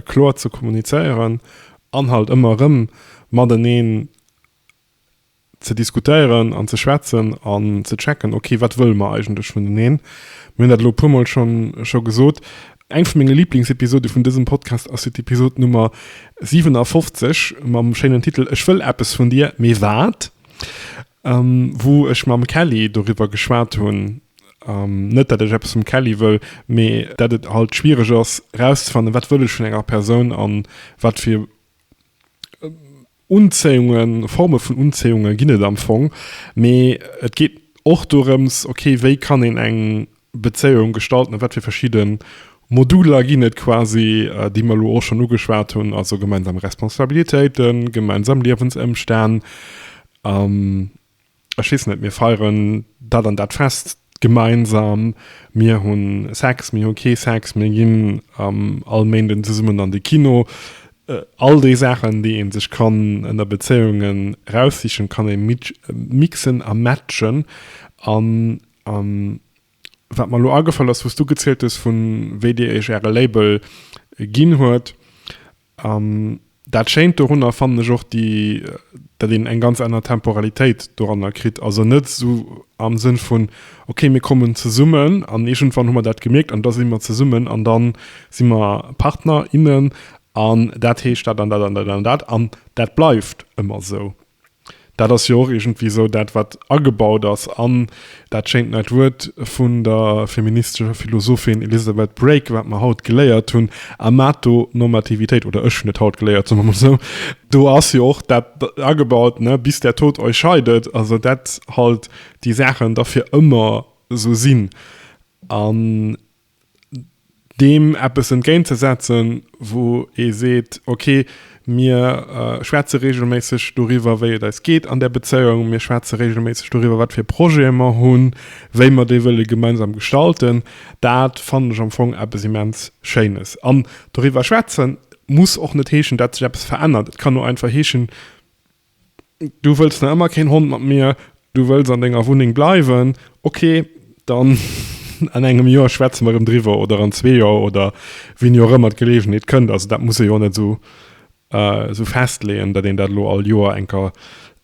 kloer ze kommunizéieren an halt ëmmer erëm mateneen ze diskutéieren an ze schwätzen an ze checken, ok wat wëlle mer eigentlech vuneneen. Mir hunn dat elo e puermol schonn scho gesot. Eng vu menge Liblingsepisode vun dësem Podcast ass jo d'Episode Nummer 57 mam schéinen Titel Ech wëll eppes vun dir, mee wat? wou ech mam Kelly doriwwer geschwat hunn, net dat ech eppes vum Kelly wëll, mee dat et halt schwiereg ass erauszefannen, wat wëll ech vun enger Persoun an wat fir. Unzéiungen, Forme vun Unzéiungen ginn et am Fong, mee et geet och dorëms, ok, wéi kann een eng Bezéiung gestalten a wat fir verschidde Moduler ginn et quasi, déi mer elo och schonn ugeschwat hunn, also gemeinsam Responsabilitéiten, gemeinsam Liewensëmstänn. ech weess net, mir feieren dat an dat Fest gemeinsam, mir hu Sex, mir hu kee Sex, mir ginn all Méinden zesummen an de Kino. All déi Saachen, déi ee sech kann ënner Bezéiungen eraussichen, kann ee mixen a matchen. An wat mer elo agefall ass, wou s du gezielt hues, vu wéi Dir Iech Äre Label ginn huet, An dat Schéint dorunner fannen ech och déi, datt een eng ganz aner Temporalitéit doranner kritt. Also net esou am Sënn vun, ok mir kommen zesummen an iergendwann hu mer dat gemierkt an da si mer zesummen an da si mer Partner, innen an dat heescht dat an dat an dat an dat an dat bleift ëmmer esou. Dat ass jo och iergendwéi esou dat, wat agebaut ass an dat schéint neit Wuert vun der feministescher Philosophin Elizabeth Brake, wat mer haut geléiert hunn, Amatonormativitéit, oder ech hunn et haut geléiert, soe mer mol esou. Do ass jo och dat agebaut, ne, bis der Tod euch scheidet, also dat halt déi Saachen da fir ëmmer esou sinn. An deem eppes entgéint ze setzen, wou ee seet, ok, mir schwätze regelméisseg doriwwer, wéi et eis geet an där Bezéiung, mir schwätze regelméisseg doriwwer, wat fir Projete mer hunn, wéi mer déi wëlle gemeinsam gestalten, dat fannen ech am Fong eppes immens Schéines. An doriwwer schwätze muss och net heeschen, datt sech eppes verännert. Et kann och einfach heeschen, Du wëlls nach ëmmer keen Hond mat mir, du wëlls an denger Wunneng bleiwen, ok, dann an engem Joer schwätze mer erëm driwwer oder an zwee Joer oder wéini och ëmmer d'Geleegenheet kënnt. Also dat muss ee jo och net esou festleeën, datt een dat elo all Joer eng Kéier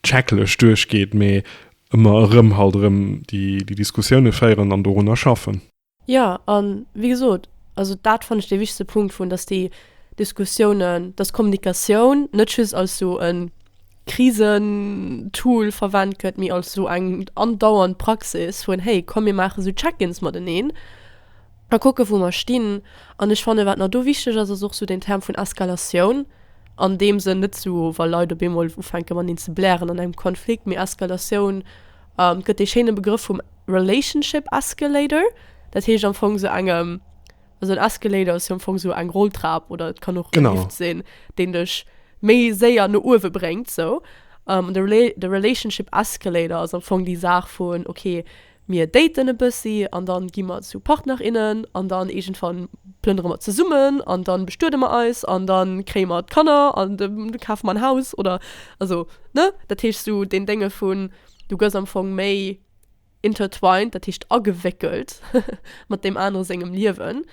checklech duerchgeet, mee ëmmer erëm halt erëm déi Diskussioune féieren an dorunner schaffen. Jo, a
wéi gesot, also dat fannen ech dee wichtegste Punkt vun, datt déi Diskussiounen, datt d'Kommunikatioun net just als esou e Krisen-Tool verwent gëtt, mee als esou eng andauernd Praxis vun, hey komm mir maache esou Check-ins mateneen a kucke wou mer stinn. An ech fannen, wat nach do wichteg ass, ass och esou deen Term vun Eskalatioun, an deem Sënn net esou, wa Leit op eemol ufänke mateneen ze blären an engem Konflikt, mee Eskalatioun Et gëtt dee schéine Begrëff vum Relationship Escalator. Dat heescht am Fong esou engem, also en Escalator ass jo am Fong esou eng Rolltrap oder et kann och e Lift sinn, deen dech méi séier no uewe bréngt esou. An de de Relationship Escalator ass am Fong déi Saach vun, okay, mir daten e bëssi an dann gi mer zu Partner, innen an dann iergendwann plënnere mer zesummen an dann bestuede mer eis an dann kréie mer d'Kanner an du kafe mer en Haus oder also. ne, dat heescht esou deen Dénge vun, du gëss am Fong méi intertwined, dat heescht agewéckelt, mat deem anere sengem Liewen,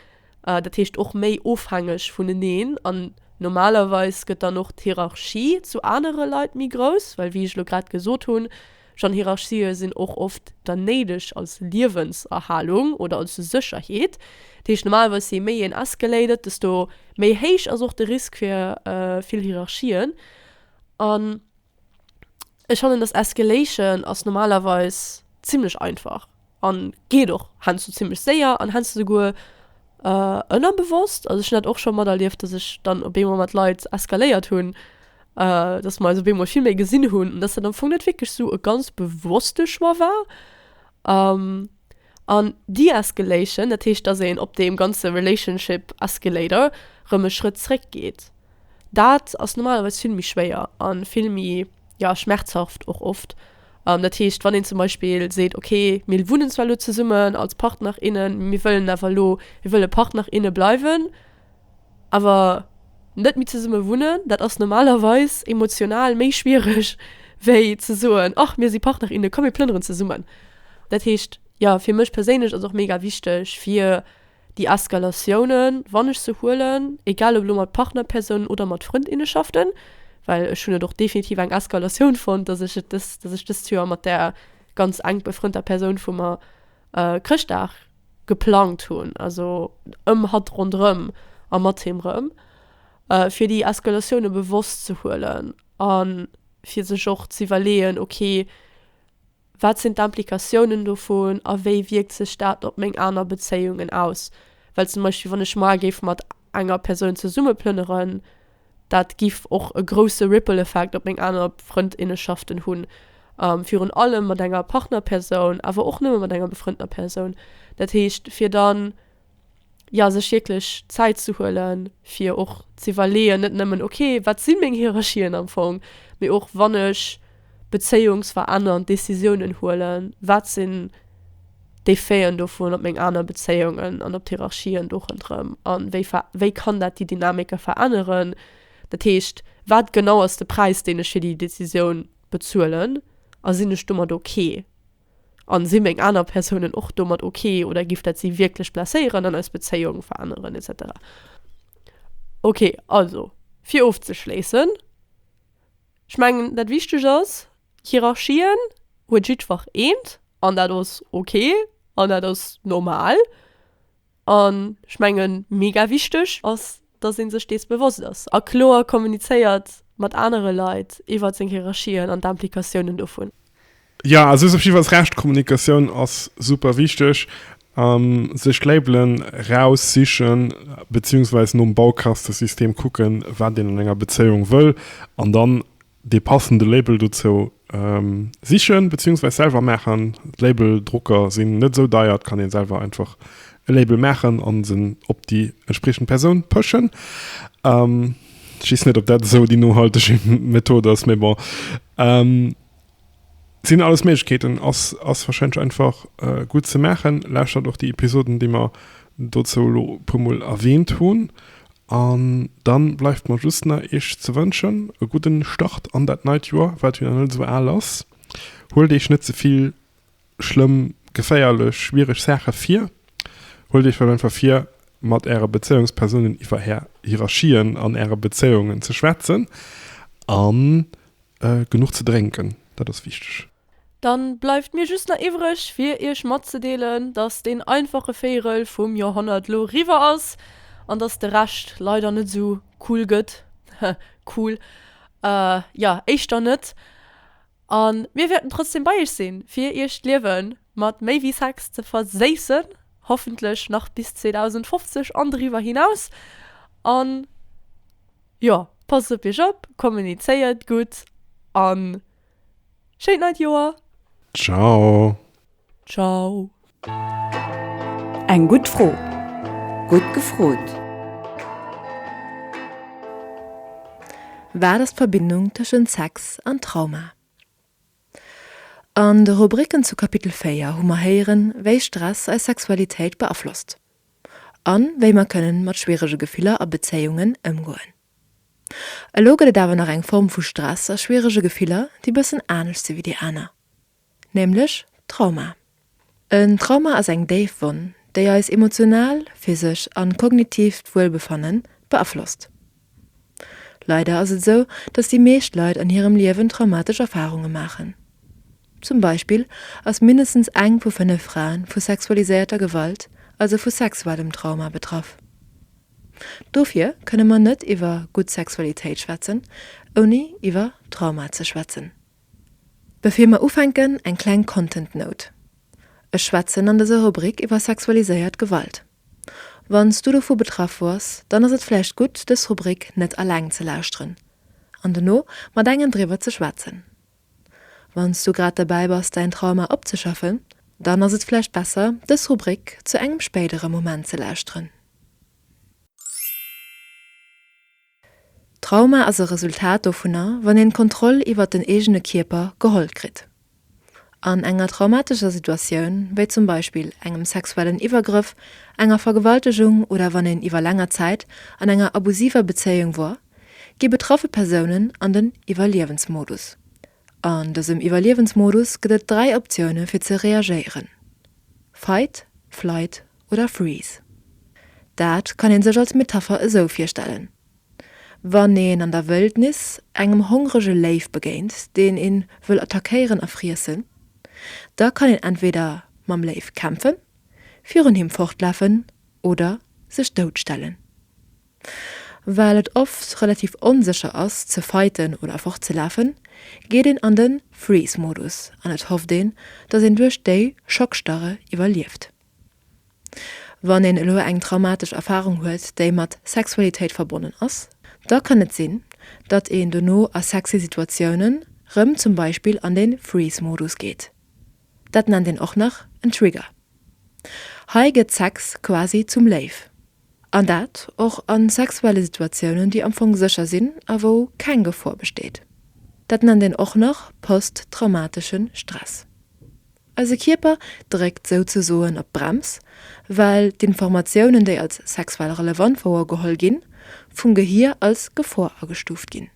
dat heescht och méi ofhängeg vuneneen. An normalerweis gëtt dann och d'Hierarchie zu anere Leit méi grouss, well wéi ech elo grad gesot hunn, schon Hierarchië sinn och oft dann néideg als Liewenserhalung oder als Sécherheet. Dat heescht normalerweis jee méi een escalated, desto méi héich ass och de Risk fir vill Hierarchien. An ech fannen, dass Escalation ass normalerweis zimmlech einfach an geet och heiansdo zimmlech séier an heiansdo souguer ënnerbewosst. Also ech hunn dat och scho materlieft, dass ech dann op eemol mat Leit eskaléiert hunn, dass mer eis op eemol vill méi gesinn hunn, dass dat am Fong net wierklech esou e ganz bewosste Choix war. An de-escalation, dat heescht, dass een op deem ganze relationship escalator rëm e Schrëtt zréck geet, dat ass normalerweis vill méi schwéier a vill méi, jo, schmerzhaft och oft. Dat heescht, wann een zum Beispill seet, okay, mir wunnen zwar elo zesummen als Partner, innen, mir wëllen awer elo, mir wëlle Partner, inne bleiwen, Awer net méi zesumme wunnen, dat ass normalerweis emotional méi schwiereg, wéi ze soen, och mir si Partner, inne, komm mir plënneren zesummen. Dat heescht, jo, fir mech perséinlech ass och mega wichteg, fir déi Eskalatiounen, wann ech se huelen, egal ob elo mat Partnerpersounen oder mat Frëndinnenschaften, well ech hunn et och definitiv eng Eskalatioun fonnt, dass ech et dës, dass ech dëst Joer mat där ganz enk befrënnter Persoun vu mer Chrëschtdag, geplangt hunn, also ëm hatt ronderëm a mat him rëm, fir déi Eskalatioune bewosst ze huelen a fir sech och z'iwwerleeën, ok, wat sinn d'Implikatiounen dovun a wéi wierkt sech dat op meng aner Bezéiungen aus? Well zum Beispill, wann ech maer géif mat enger Persoun zesummeplënneren, Dat giff och e grousse Ripple Effekt op meng aner Frëndinnenschaften hunn, virun allem mat enger Partnerpersoun, awer och nëmme mat enger befrëndener Persoun. Dat heescht fir dann, jo, sech wierklech Zäit ze huelen, fir och z'iwwerleeën, net nëmmen, ok, wat si meng Hierarchien am Fong, mee och, wann ech, bezéiungsverännernd Decisiounen huelen, wat sinn d'Effeten dovun op meng aner Bezéiungen an op d'Hierarchien do ronderëm a wéi ver, wéi kann dat déi Dynamike veränneren? Dat heescht, wat genau ass de Präis, deen ech fir déi Decisioun bezuelen a sinn ech domat ok? An si meng aner Persounen och domat ok oder giff dat si wierklech blesséieren an eis Bezéiung veränneren etc. Ok, also fir ofzeschléissen. Ech mengen dat wichteg ass, Hierarchien huet jiddwer eent an dat ass ok an dat ass normal an ech mengen mega wichteg ass, dass een sech dees bewosst ass a kloer kommunizéiert mat anere Leit iwwert seng Hierarchien an d'Implikatiounen dovun. Jo also hues
op jiddwer Fall Recht, Kommunikatioun ass super wichteg, an sech d'Labelen raus sichen beziehungsweise nom Baukastesystem kucken wat een an enger Bezéiung wëll an dann dee passende Label dozou sichen beziehungsweise selwer maachen. Labeldrucker sinn net esou deier, et kann een selwer einfach e Label maachen an se op déi entspriechend Persoun pëschen. Ech wees net op dat esou déi nohalteg Method ass, mee bon. Sinn alles Méiglechkeeten, ass ass wahrscheinlech einfach gutt ze maachen. Lauschtert och déi Episoden, déi mer dozou elo e puer Mol erwähnt hunn. An dann bleift mer just nach Iech ze wënschen e gudden Start an dat neit Joer, wat jo nach net esou al ass. Huelt Iech net ze vill schlëmm, geféierlech, schwiereg Saache vir. Huelt Iech vläicht einfach vir mat Äre Bezéiungspersounen iwwer Är Hierarchien an Äre Bezéiungen ze schwätzen an Genuch ze drénken, dat ass wichteg. Dann bleift
mir just nach iwwreg fir iech matzedeelen dass deen einfache Véirel vum Joerhonnert lo riwwer ass an dass de Rescht leider net sou cool gëtt, cool jo éischter net. An mir wäerten trotzdem bei iech sinn fir iech d'Liewen mat méi wéi Sex ze verséissen, hoffentlech nach bis 2050 an driwwer hinaus an. Jo, passt op iech op, kommunizéiert gutt an schéint neit Joer! Ciao!
Ciao!
Eng gutt Fro! Gutt gefrot! Wat ass d'Verbindung tëschent Sex an Trauma? An de Rubricken zu Kapitel 4 hu mer héieren, wéi Stress eis Sexualitéit beaflosst. a wéi mer kënnen mat schwierege Gefiller a Bezéiungen ëmgoen. Elo gëtt et awer nach eng Form vu Stress a schwierege Gefiller, déi bëssen anescht si wéi déi aner, nämlech d'Trauma. En Trauma ass eng déif Wonn, déi eis emotional, physesch a kognitivt Wuelbefanne beaflosst. Leider ass et esou, dass déi meescht Leit an hirem Liewen traumatesch Erfarunge maachen. Zum Beispill ass mindestens eng vu fënnef Fraen vu sexualiséierter Gewalt, also vu sexuellem Trauma, betraff. Dofir kënne mer net iwwer gutt Sexualitéit schwätzen, ouni iwwer Trauma ze schwätzen. Bevir mer ufänken, eng kleng Content Note, Ech schwätzen an dëser Rubrik iwwer sexualiséiert Gewalt. Wanns du dovu betraff wars, dann ass et vläicht gutt dës Rubrik net alleng ze lauschteren an dono mat engem driwwer ze schwätzen. Wanns du grad derbäi bass däin Trauma opzeschaffen, dann ass et vläicht besser dës Rubrik zu engem spéidere Moment ze lauschteren. Trauma ass e Resultat dovunner, wann een d'Kontroll iwwert den eegene Kierper geholl kritt. An enger traumatescher Situatioun, wéi zum Beispill engem sexuellen Iwwergrëff, enger Vergewaltegung oder wann een iwwer länger Zäit an enger abusiver Bezéiung wor, gi betraffe Persounen an den Iwwerliewensmodus. An dësem Iwwerliewensmodus gëtt et dräi Optioune fir ze reagéieren, Fight, Flight oder Freeze. Dat kann een sech als Metapher esou virstellen, Wann een an der Wëldnis engem hongrege Léif begéint, deen een wëll attackéieren a friessen, da kann een entweder mam Léif kämpfen, virun him fortlafen oder sech dout stellen. Well et oft relativ onsécher ass ze fighten oder fortzelafen, geet een an den Freeze Modus an et hofft een dass een duerch déi Schockstarre iwwerlieft. Wann een elo eng traumatesch Erfarung huet déi mat Sexualitéit verbonnen ass, da kann et sinn datt een dono a sexy Situatiounen rëm zum Beispill an den Freeze Modus geet. Dat nennt een och nach en Trigger. Hei gëtt Sex quasi zum Léiw. An dat och a sexuelle Situatiounen, déi am Fong sécher sinn a wou keng Gefor besteet. Dat nennt een och nach posttraumatesche Stress. Eise Kierper dréckt souzesoen op d'Brems, well d'Informatiounen, déi als sexuell relevant wouergeholl ginn, vum Gehir als Gefor agestuuft ginn.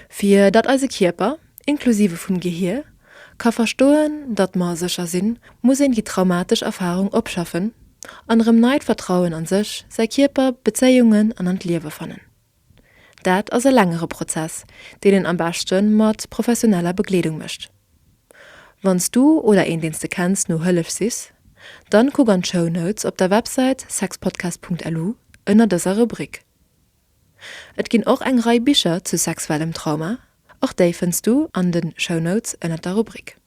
Fir datt eise Kierper, inklusive vum Gehier, ka verstoen, datt mer sécher sinn, muss een déi traumatesch Erfarung opschaffen an erëm neit Vertrauen an sech, säi Kierper, Bezéiungen an an d'Liewe fannen. Dat ass e längere Prozess, deen een am beschte mat professioneller Begleedung mécht. Wann s du oder een, deen s de kenns, no Hëllef sichs, dann kuck an d'Show Notes op der Websäit sexpodcast.lu ënner dëser Rubrik. Et ginn och eng Rei Bicher zu sexuellem Trauma, och déi fënns du an de Show Notes ënnert der Rubrik.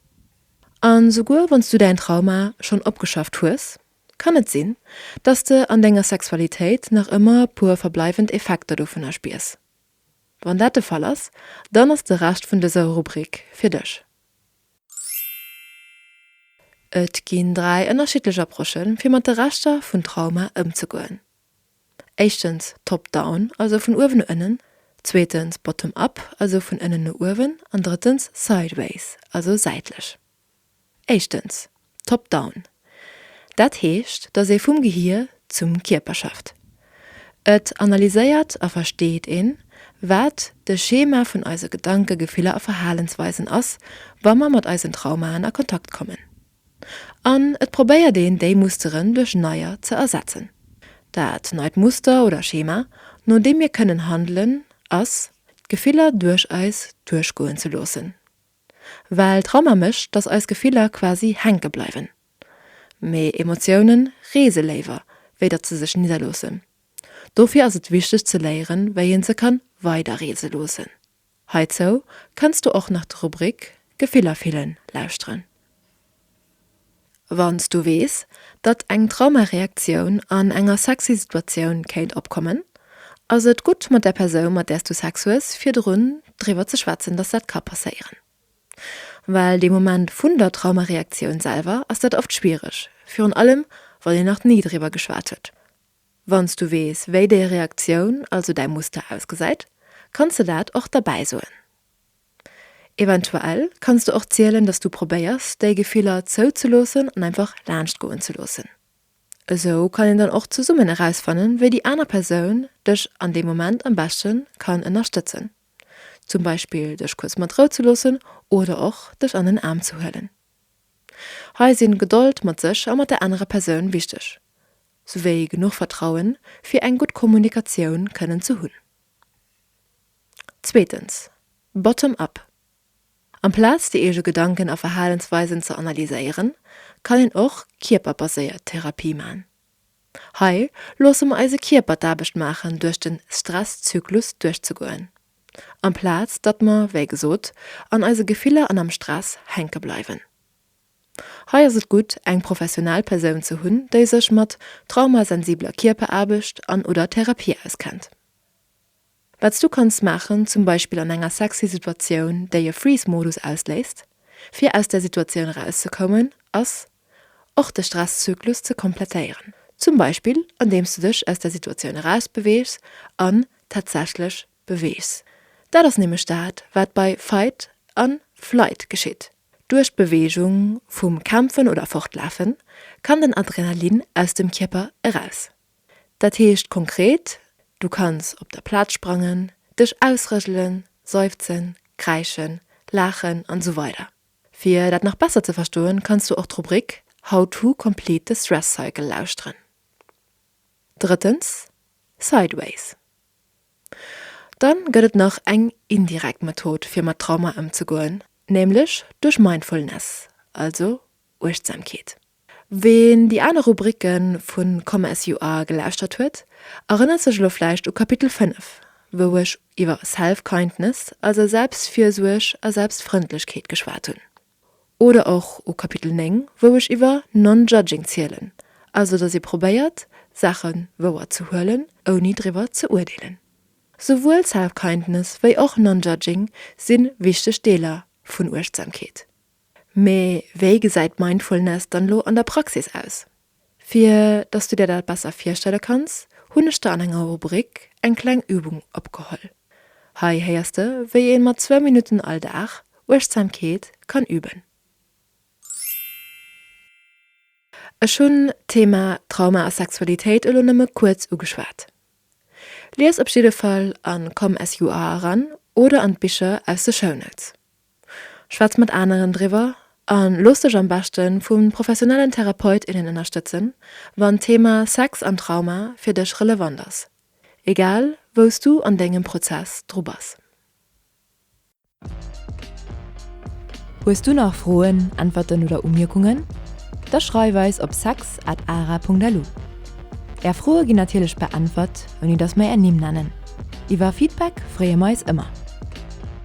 An souguer wann s du däin Trauma schonn opgeschafft hues, kann et sinn, dass s de an denger Sexualitéit nach ëmmer e puer verbleiwend Effekter dovunner spiers. Wann dat de Fall ass, dann ass de Rescht vun dëser Rubrik fir dech. Et ginn dräi ënnerschiddlech Approchen, fir mat de Reschter vun Trauma ëmzegoen. Éischtens top down, also vun uewen no ënnen, zweetens bottom up, also vun ënnen no uewen, an drëttens sideways, also säitlech. Éischtens top down, dat heescht, datt ee vum Gehier zum Kierper schafft. Et analyséiert a versteet een, wat de Schema vun eise Gedanken, Gefiller a Verhalensweisen ass, wa mer mat eisen Traumaen a Kontakt kommen. An et probéiert een déi Musteren duerch neier ze ersetzen. Dat neit Muster oder Schema, no deem mir kënnen handelen, ass, d'Gefiller duerch eis duerchgoen ze loossen. Well Trauma mécht, datt eis Gefiller quasi hänke bleiwen. Mee Emotioune reese léiwer, wéi datt se sech nidderloossen. Dofir ass et wichteg ze léieren, wéi een se kann weiderreese loossen. Heizou kanns du och nach d'Rubrik Gefiller fillen lauschteren. Wanns du weess, datt eng Traumareaktioun an enger sexy Situatioun kéint opkommen, ass et gutt mat der Persoun, mat där s du Sex hues, virdrun driwwer ze schwätzen, datt dat ka passéieren. Well dee Moment vun der Traumareaktioun selwer ass dat oft schwiereg, virun allem wann een nach ni driwwer geschwat huet. Wann s du weess, wéi déi Reaktioun, also däi Muster ausgesäit, kanns de dat och derbäi soen. Eventuell kanns du och zielen, dass du probéiers, déi Gefiller zouzeloossen an einfach laanscht goen ze loossen. Esou kann een dann och zesummen erausfannen, wéi déi aner Persoun dech an deem Moment am beschte kann ënnerstëtzen, zum Beispill dech kuerz mat Rou ze loossen oder och dech an den Aarm ze huelen. Hei sinn Gedold mat sech a mat der anerer Persoun wichteg. souwéi genuch Vertrauen, fir eng gutt Kommunikatioun kënnen ze hunn. Zweetens, Bottom up. Amplaz déi eege Gedanken a Verhalensweisen ze analyséieren, kann een och kierperbaséiert Therapie man. Hei loosse mer eise Kierper d'Aarbecht maachen duerch den Stresszyklus duerchzegoen, amplaz datt mer, wéi gesot, an eise Gefiller an am Stress hänke bleiwen. Hei ass et gutt, eng professionell Persoun ze hunn, déi sech mat traumasensibler Kierperaarbecht an oder Therapie auskennt. Wat s du kanns maachen, zum Beispill an enger sexy Situatioun, déi e Freeze-Modus ausléist, fir aus där Situatioun erauszekommen, ass, och de Stresszyklus ze komplettéieren. Zum Beispill andeems du dech aus der Situatioun erausbeweegs an tatsächlech Beweegs. Dat ass nämlech dat, wat bei Fight an Flight geschitt. Duerch d'Beweegung vum Kämpfen oder Fortlafen kann den Adrenalin aus dem Kierper eraus. Dat heescht konkret, du kanns op der Plaz sprangen, dech ausrëselen, seufzen, kräischen, laachen an esou weider Fir dat nach besser ze verstoen, kanns du och d'Rubrik How to complete the stress cycle lauschteren. Drëttens, Sideways. Dann gëtt et nach eng indirekt Method fir mat Trauma ëmzegoen, nämlech duerch Mindfulness, also Uechtsamkeet. Ween déi aner Rubricke vu Come As You Are gelauschtert huet, erënnert sech elo vläicht u Kapitel 5, wou ech iwwer Self-Kindness, also Selbstfürsuerg a Selbstfrëndlechkeet geschwat hunn. Oder och u Kapitel 9, wou ech iwwer Non-Judging zielen, also datt ee probéiert, Saache wouer ze huelen, ouni driwwer ze urdeelen. Souwuel Self-Kindness wéi och Non-Judging si wichteg Deeler vun Uechtsamkeet. Mee wéi gesäit Mindfulness dann elo an der Praxis aus? Fir dass du dir dat besser virstelle kanns, hunn ech der an enger Rubrik eng kleng Übung opgeholl. Hei héiers de wéi een mat zwou Minutten all Dag Uechtsamkeet kann üben. Ech hunn d'Thema Trauma a Sexualitéit elo nëmme kuerz ugeschwat. Lies op jidde Fall an com-s-you-are eran oder an d'Bicher aus de Show Notes. Schwätz mat aneren driwwer a looss dech am beschte vu professionellen Therapeut, innen ënnerstëtzen, wann d'Thema Sex an Trauma fir dech relevant ass, egal wou s du an dengem Prozess dru bass.
Hues du nach Froen, Äntwerten oder Umierkungen? Da schreif eis op sex at ara.lu. Är Froe ginn natierlech beäntwert, ouni datt mer är Nimm nennen. Iwwer Feedback freeë mer eis ëmmer.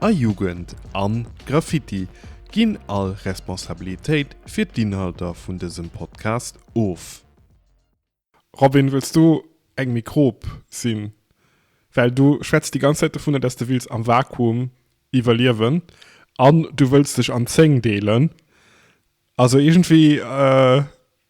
A Jugend an Graffiti ginn all Responsabilitéit fir d'Inhalter vun dësem Podcast of.
Robin wëlls du eng Mikrob sinn? Well du schwätz déi ganz Zäit dovunner dass de wills am Vakuum iwwerliewen an du wëlls dech an 10 deelen. Also iergendwéi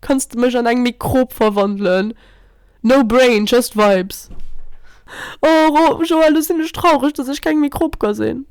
Kanns de mech an eng Mikrob verwandelen? No brain, just vibes. Oh Joël, lo sinn ech traureg dass ech keng Mikrob ka sinn.